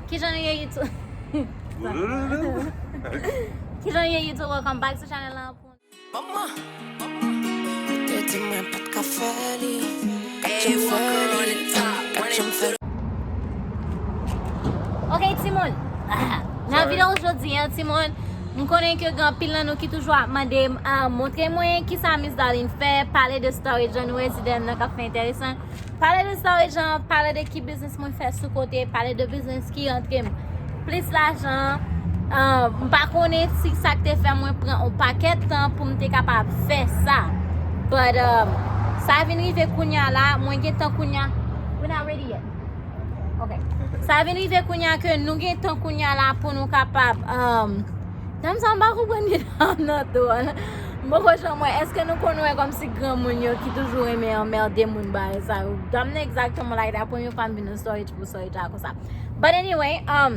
Kijan nou ye YouTube welcome back to channel lan pou Ok timoun Nan video jodi an timoun M konnen ke gen anpil nan nou ki toujou ap mande m Montre mwen kisa Miss Darline fè Pale de storage an nou wè ti dèm nan kap fè enteresan Pale de sa ou e jan, pale de ki biznis mwen fè sou kote, pale de biznis ki antre m. Plis lajan, m pa konnen si sa k te fè mwen pran yon pakèt tan pou m te kapab fè sa. But, um, sa vin rive kounya la, mwen gen tan kounya, we're not ready yet. Ok. Sa vin rive kounya ke nou gen tan kounya la pou nou kapab, um, Dam sa m pa konprann li la nan do a. M poko janm wè. Eske nou konn wè kòmsi granmoun yo ki toujou renmen anmède moun bagay sa yo. Dam nan egzakteman like that. Premye fwa m vin nan storage pou storage la konsa. But anyway, um,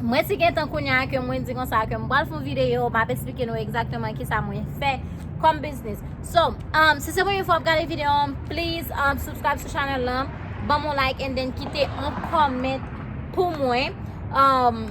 mwen si gentan kounye a ke mwen di konsa ke m pral fon videyo, m ap esplike nou egzakteman kisa mwen fè kòm biznis. So, um, si se premye fwa w ap gade videyo an, please, um, subscribe sou channel lan, banm yon like and then kite yon comment pou mwen. Um.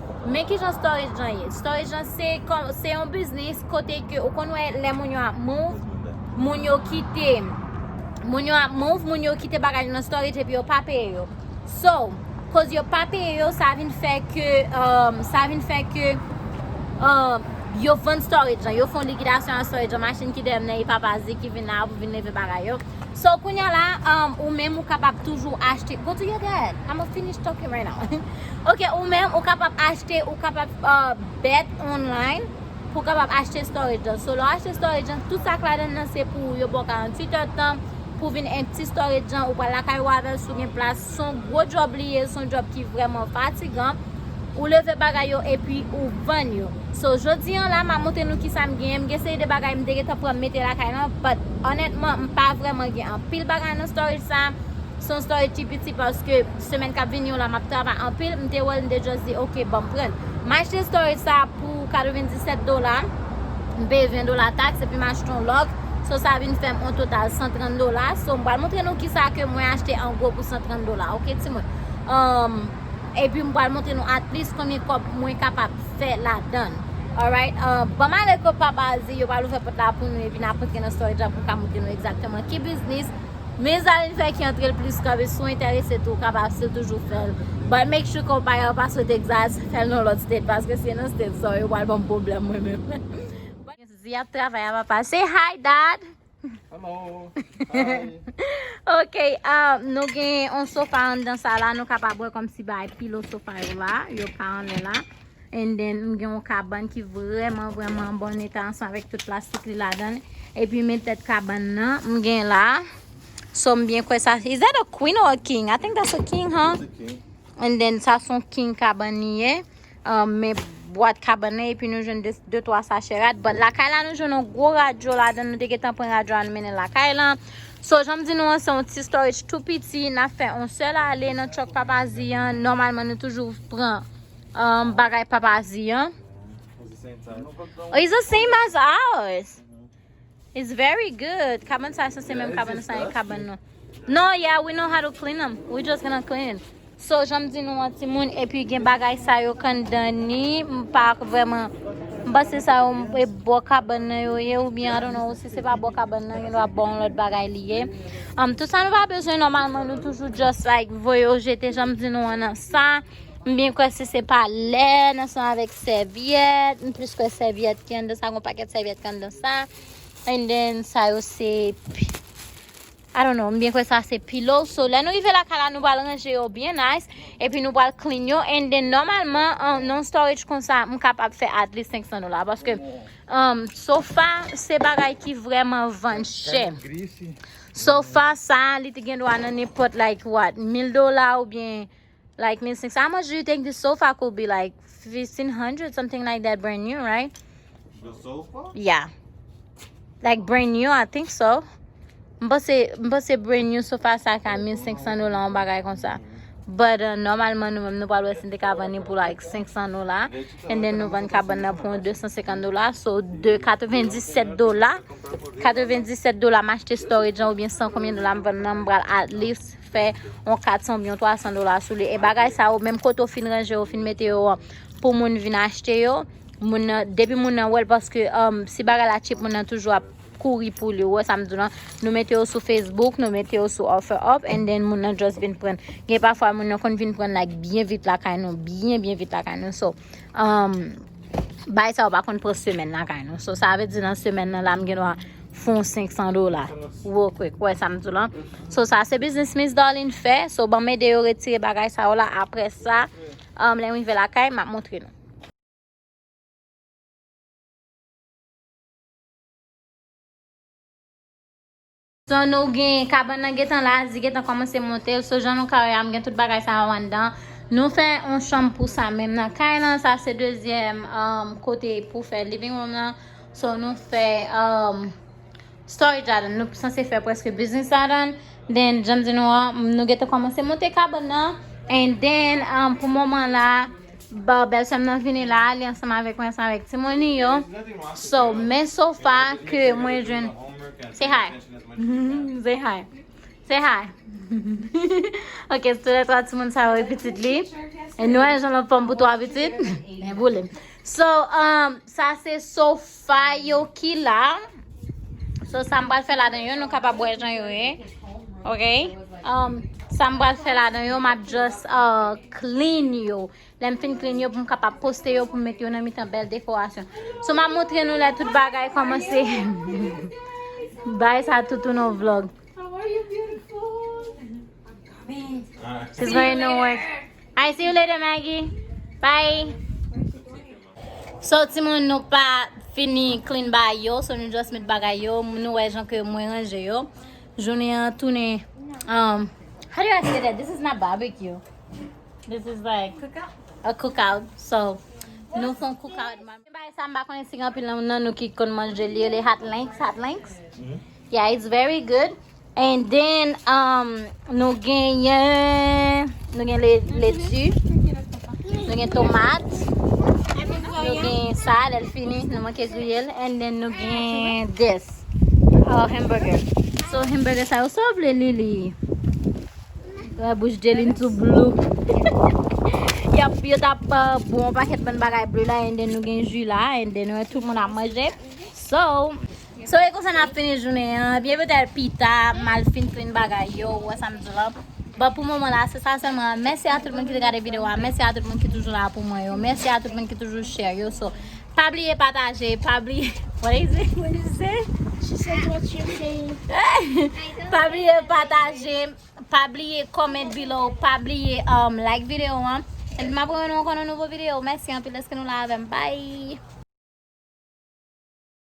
Men kijan storage lan ye, storage lan se kòm, se yon biznis kote ke ou konn wè lè moun yo ap move, moun yo kite, moun yo ap move, moun yo kite bagay yo nan storage epi yo pa peye yo. So, koz yo pa peye yo sa vin fè ke, sa vin fè ke yo vann storage lan, yo fon likidasyon a storage lan, machin ki deyò nan e papa zi ki vin la pou vin leve bagay yo. So, kounya la, ou menm ou kapab toujou achte, go do your dad, I'ma finish talking right now. Ok ou menm ou kapab achte ou kapab bet online pou w kapab achte storage lan so lè w achte storage lan tout sa k ladan nan se pou ou yo ba w 48 heures tan pou w vin empty storage lan ou pral lakay ou avèl si w gen plas s on gwo djòb li ye s on djòb ki vrèman fatigan ou leve bagay yo epi ou vann yo so jodi an la m a montre nou kisa m genyen m gen seri de bagay m te gentan pran mete lakay lan but onètman m pa vrèman gen anpil bagay nan storage sa s on storage ki piti paske Semèn kap vini yo la map travay anpil m te wèl m te just di ok banm pranl m achte storage sa pou 97 dola m peye 20 dola tax epi m achte yon lòk so sa vin fèm on total 130 dola so m pral montre nou kisa ke mwen achte an gwo pou 130 dola ok ti moun umm epi m pral montre nou at plis konbyen kòb mwen kapab fè ladann alright umm banm ale ko papa di yo pral ouvè pòt la pou nou epi nap antre nan storage la pou m ka montre nou egzakteman ki biznis. Men Zaline fè ki antrel plis kanpe si w enterese tou w kapab si w toujou fèl but make sure konpayi a w pa sou Texas fèl nan lòt state paske si e nan state sa w yo pral banm pwoblèm mwen menm Zi ap travay a papa say hi dad Hello Ok ahh nou gen yon sofa anndan sa la nou kapab wè kòmsi bagay pilo sofa yo la yo pa anlè la And then m gen yon kabann ki vrèman vrèman an bon eta ansanm avèk tout plastik li ladan l. Epi men tèt kabann nan m gen la. So m byen kwè sa. Is that a queen or a king? I think that's a king huh? It's a king. And then sa son king kabann li ye. Um, men bwat kabann nan epi nou jwenn 2 3 sachè rad. But lakay la nou jwenn yon gwo radyo ladan l. Nou te gentan pran radyo a nou mennen l lakay la. So jan m di nou an se yon ti storage tou piti. N ap fè yon sèl ale nan truck papa Zi an. Nòmalman nou toujou pran. Um, bagay papa di an. Oh, it's the same as ours. It's very good. Kaban sa se menm kaban sa e kaban nou. No, yeah, we know how to clean them. We just gonna clean. So, janm di nou an ti moun, epi gen bagay sa yo kan dani, m pa vreman, m pa se sa yo, m pe bo kaban nan yo ye, ou bien, I don't know, si se pa bo kaban nan, yon do a bon lot bagay li ye. Um, tout sa nou pa bezwen, normalman nou toujou just like, voye yo jete, janm di nou an nan sa. M byen kwè si se pa lè nan son avèk sèvyèt, m plis kwè sèvyèt ki anndan sa, gon pakèt sèvyèt ki anndan sa. And then sa yo se I don't know, m byen kwè sa se pillow. So lè nou rive lakay la nou pral ranje yo byen nice epi nou pral clean yo and then nòmalman nan yon storage konsa m kapab fè at least 500 dola paske sofa se bagay ki vrèman vann chè. Sofa sa li te gendwa nan nenpòt like what 1000 dola oubyen Like 1500 how much do you think this sofa could be like 1500 something like that brand new right The sofa? yeah like brand new I think so m panse m panse brand new sofa sa ka 1500 dola an bagay konsa but uh, normalman nou menm nou pral wè si n te ka vann li pou like 500 dola and then nou vann kabann nan pou 250 dola so de 97 dola 97 dola m achte storage an oubyen san konbyen dola m vann nan m pral at least fè yon 400 oubyen yon 300 dola sou li e bagay sa yo menm kote ou fin ranje yo fin mete yo an pou moun vin achte yo moun nan depi moun nan wèl paske um, si bagay la chip moun nan toujou ap kouri pou li wè sa m di lan nou mete yo sou Facebook nou mete yo sou offer up and then moun nan just vin pran gen pafwa moun nan konn vin pran like byen vit lakay nou byen byen vit lakay nou so um, bay sa ou pa konn pran semèn la kay nou. So sa ve di nan semèn nan la m gen dwa fon 500 dola. Wo kwek, wè sa m di lan. So sa se biznis Miss Darlene fè. So ban m ede yo retire bagay sa ou la. Apre sa, um, lè m rive la kay, m ap montre nou. Son nou gen kabann nan gentan la zi gentan komanse montel so jan nou ka wè a m gen tout bagay sa yo anndan nou fè yon chanm pou sa menm nan kay lan sa se dezyèm kote pou fè living room nan so nou fè storage ladan nou sanse fè preske business ladan then janm di nou an nou gentan komanse monte kabann nan and then pou moman la. Bon bèl sèm nan vini la li ansanm avèk mwen ansanm avèk timoun li yo so men sofa ke mwen jwenn say hi say hi say hi ok se lè 3 timoun sa yo e pitit li e nou wè jan l anfòm pou 3 pitit li boule m so sa se sofa. Fay yo ki la. So sa m pral fè ladan yo nou kapab wè jan yo ye. Ok. Um, sa m pral fè ladan yo map just uh, clean yo. Lè m fin clean yo pou m kapab poste yo pou m met yo nan mitan bèl dekorasyon. So map montre nou lè tout bagay komanse. Bay sa tout ou nan vlog. She's going to work. I see you later, Maggie. Bye. So ti moun nou pa fini clean baay yo so nou just met bagay yo nou wè jan ke mwen ranje yo jounen an tounen um how do I say that this is not barbecue this is like a cook out so nou fon cook out mwen bay sa m pa konnen si gen anpil nan nou ki konn manje li rele hot links hot links Yeah it's very good and then um nou genyen nou gen letu nou gen tomate nou gen sa lèl fini nou manke griyel and then nou gen this our hamburger so hamburger sa yo sa w vle li li la bouche jelin tou blue yap yo tap uh, bon paket ban bagay blue la and then nou gen ju la and then nou tout moun ap manje so So e konsa nap fini jounen an, ebyen petèt pita mal fin plen bagay yo, ou wè sam di la. Bon pou moman la se sa sèlman, mèsi a tout moun ki te gade video a, mèsi a tout moun ki toujou la pou mwen yo, mèsi a tout moun ki toujou share yo, so pa bliye pataje, pa bliye what is it, what is it? She said what you saying? Pa bliye pataje, pa bliye comment below, pa bliye um like video an, epi map wè nou ankò nan nouvo video, mèsi anpil dèske nou la avèm, bye!